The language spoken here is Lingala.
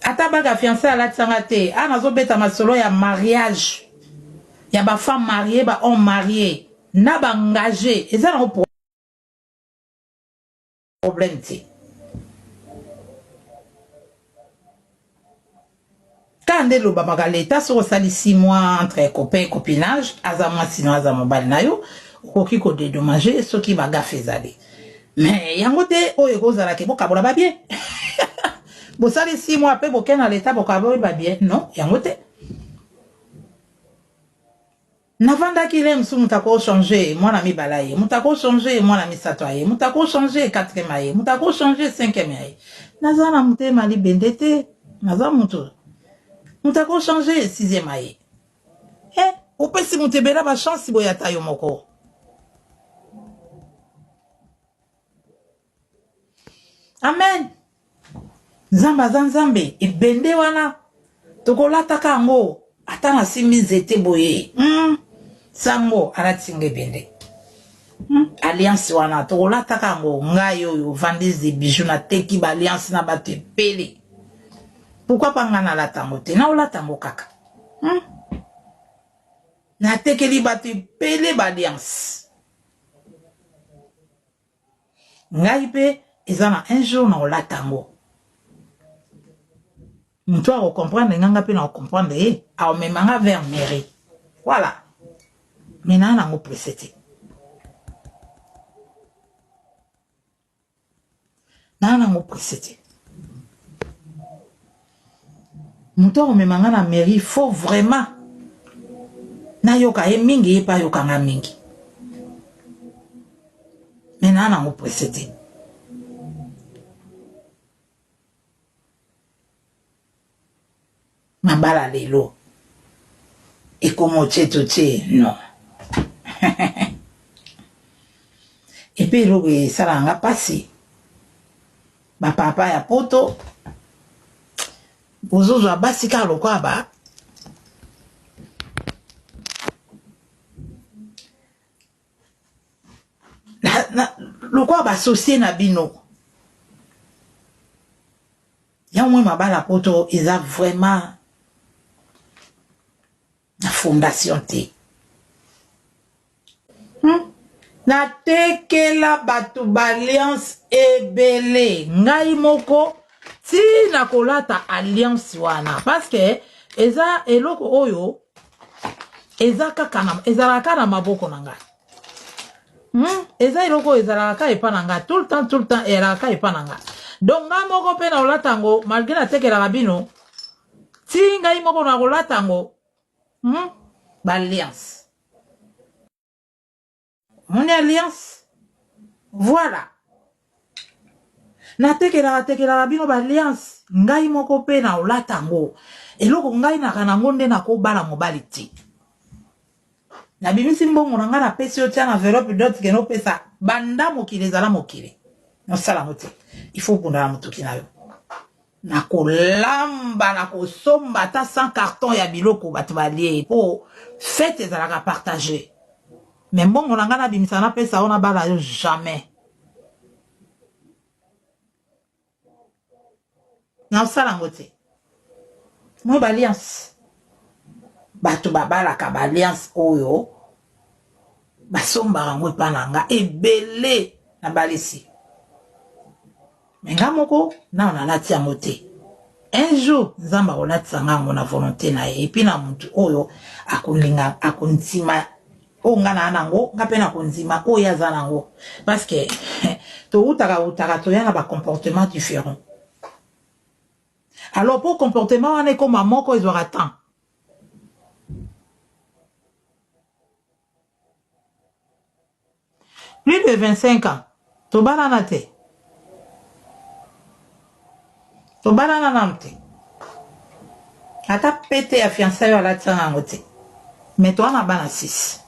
Ata bague ya fiançailles alatisa nga te, awa nazo beta masolo ya mariage ya ba femmes mariees, ba hommes maries na ba engages eza nango problème te. Kaka nde elobamaka l'etat soki osali six mois entre copain et copinage, aza mwasi na yo aza mobali na yo, okoki ko dedommager soki ba gaffes ezali. Mais yango te oyo ekozala ke bokabola ba bien. Bosali 6 mois pe boke na leta bokaboli ba bien. Non, yango te. navandaki le mosusu moto ako change mwana mibala ye moto ako change mwana misato aye moto ako change quatrième aye moto ako change cinquième aye naza na motema libende te naza moto moto ako change sixième aye He, opesi moto ebela ba chance boye ata yo moko. Amen. Nzambe aza Nzambe, ebende wana tokolataka yango ata nasimbi nzete boye. Hmm. Sango alati nga ebende. Hmm. Alliance wana tokolataka yango ngai oyo vendise de bijoux nateki ba alliance na bato ebele. Pourquoi pas ngai nalata yango te? Naolata yango kaka. Hum. Natekeli bato ebele ba alliance. Ngai pe eza na un jour na olata yango. Moto ako comprendre nga nga pe na comprendre ye, aomema nga vers mairie. Voilà. Mais na nango presse te. Naza nango presse te. Mutu akomema nga na mairie faut vraiment nayoka ye mingi ye pe ayoka nga mingi. Mais naza nango presse te. Mabala lelo ekomo cheto che non epe eloko esalaka nga pasi ba papa ya poto bozozwa basi kaka lokola ba lokola basosie na bino yango mwe mabala poto eza vraiment na fondation te hmm? natekela bato baalliance ebele ngai moko ti na kolata alliance wana parce que eza eloko oyo eza kaka na ezalaka kaka na maboko na ngai hmm? eza eloko oyo ezalaka kaka epa na ngai tout le temps tout le temps eyalaka kaka epa na ngai donc ngai moko mpe na olata yango malgre natekelaka bino ti ngai moko na kolata yango hmm? baalliance Omoni alliance? Voilà. Natekelaka tekelaka bino ba alliance, ngai moko pe na olata yango. Eloko ngai naka nango nde nako bala mobali te. Nabimisi mbongo na ngai napesi yo tia na enveloppe dot keno pesa banda mokili ezala mokili. Nasala yango te. Il faut bunda na motuki na yo. na kolamba na kosomba ata 100 cartons ya biloko batu balie po fete ezalaka partage mais mbongo na ngai nabimisa napesa yo nabala yo jamais nakosala yango te moi ba alliance bato babalaka ba alliance oyo Basombaka yango epa na nga ebele na balisi me nga moko nao nalati yango te un jour nzambe akolatisa nga yango na volonte na ye epi na motu oyo akolinga akondima oyo nga naa nango nga mpe nakondima oyo aza nango parce que towutaka wutaka toya na bacomportement différent alors mpo comportement wana ekoma moko ezwaka temps Plus de 25 ans tobalana te tobalana nanu te ata pete ya fiançaille oyo alatisa nga yango te mais toa na bana 6